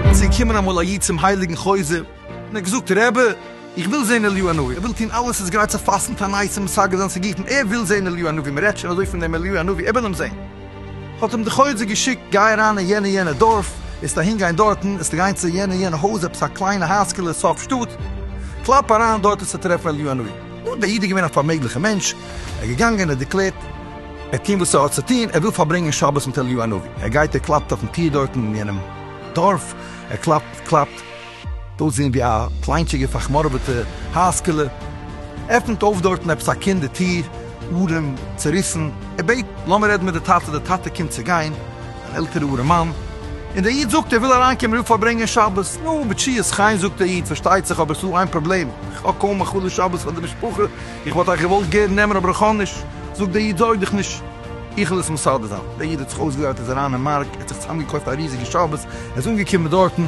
איז געקומען אמאל א איד צום הייליגן חוזה און האט געזאגט, רבי, איך וויל זען אליהו הנביא, ער וויל טון אלעס איז גרייט צו פאסטן פאר נייעס און משגע זיין צו גוטן, ער וויל זען אליהו הנביא, מען רעדט שוין אזוי פון דעם אליהו הנביא, ער וויל אים זען. האט אים די חוזה געשיקט, גיי אריין אין יענע יענע דארף, וועסט אהין גיין דארטן, וועסטו גיין צו יענע יענע הויז, עפעס א קליינע הייזקעלע סוף שטאט, קלאפ אריין דארט וועסטו טרעפן אליהו הנביא. נו, דער איד איז געווען א פארמעגליכער מענטש, ער איז געגאנגען, ער האט דערקלערט, ער האט געטון וואס ער האט צו טון, ער וויל פארברענגען שבת מיט אליהו הנביא, ער גייט ער קלאפט אויפן טיר דארטן אין יענעם דארף, ער קלאפט, קלאפט. אויסזען ווי א קליינטשיגע פארחמורעוועטע הייזקעלע, עפנט אויף דארטן עפעס א קינד די טיר, ארעם, צעריסן, ער בעט לאמיר רעדן מיט די טאטע, די טאטע קומט צו גיין, אן עלטערע ארעמאן, און דער איד זאגט ער וויל אריינקומען ער וויל פארברענגען שבת, נו מיט שיעור'ס חן זאגט דער איד פארשטייט זיך אבער ס'דא איין פראבלעם, איך האב קוים א חלו שבת פאר די משפחה, איך וואלט אייך געוואלט גערן נעמען אבער איך האב נישט, זאגט דער איד זארג דיך נישט איך וועל עס מסדר זיין, דער איד האט זיך אויסגעדרייט איז אריין אין מארק ער האט זיך צוזאם געקויפט א ריזיגע שבת, ער איז אנגעקומען דארטן.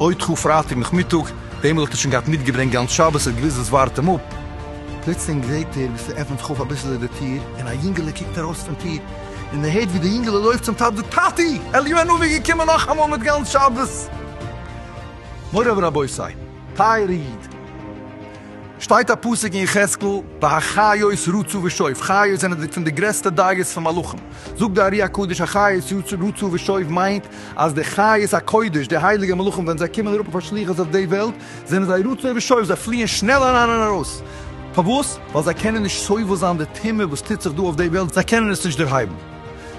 אוי טחו פרייטאג נאכמיטאג, דעם וואלט ער שוין געהאט מיטגעברענגט גאנץ שבת, ער האט געוואוסט וואס ווארט אים אפ. פלוצלינג זעהט ער ווי ס'עפענט זיך אויף אביסל איז די טיר, און א יונגעלע קוקט ארויס פון טיר, און ער הערט ווי די יונגעלע לויפט צום טאטע זאגט טאטי! אליהו הנביא איז געקומען נאכאמאל מיט גאנץ שבת! מוריי ורבותיי! טייערע איד! שטייט א פסוק אין יחזקאל והחיות רצו ושוב, חיות זענען פון די גרעסטע דייגעס פון מלאכים, זאגט די ארי הקדוש החיות רצו ושוב מיינט אז די חיות הקודש, די הייליגע מלאכים, ווען זיי קומען אראפ אויף א שליחות אויף די וועלט, זענען זיי רצוי ושואף, זיי פליען שנעל אריין און ארויס. פארוואס? ווייל זיי קענען נישט סובל זיין די טומאה וואס טוט זיך דא אויף די וועלט, זיי קענען עס נישט דערהייבן.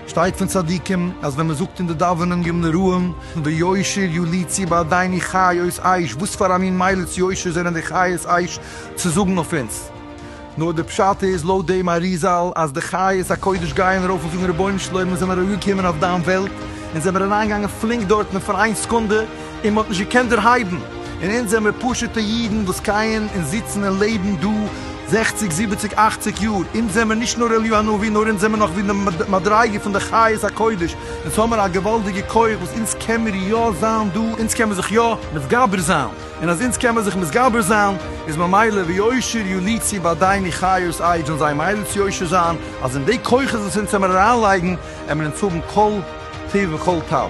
שטייט פון צדיקים, אז ווען מען זאגט אין די דאווענען יום נראים, ויושר יוליצי בעדיני חיות עייש, וואס פאר א מין מיילעס יושר זענען די חיות עייש צו זאגן אויף אונז? נאר די פשט איז לויט דעם אריזל אז די חיות הקודש גייען ארויף און זאגן רבונו של עולם מיר זענען ארויגעקומען אויף דיין וועלט אונז זעמיר אריינגעגאנגען פלינק דארטן פאר איין סקונדע און מ'האט נישט געקענט דערהייבן און אונז זעמיר פשוטע אידן וואס קייען און זיצן און לעבן דא זעכציג זיבעציג אכציג יאר אונז זעמיר נישט נאר אליהו הנביא נאר אונז זעמיר נאך ווי די מדריגה פון די חיות הקודש אונז האמיר א געוואלדיגע כח וואס אונז קעמיר יא זיין דא אונז קעמיר זיך יא מתגבר זיין. און אז אונז קען מען זיך מתגבר זיין, איז ממילא ויושר יליצי בעדיני חיות עי' זאלן זיי ממילא צו יושר זיין, אז אין די כוחות וואס אונז העמער אריינלייגן, העמער אונז האבן כל טיב וכל טב.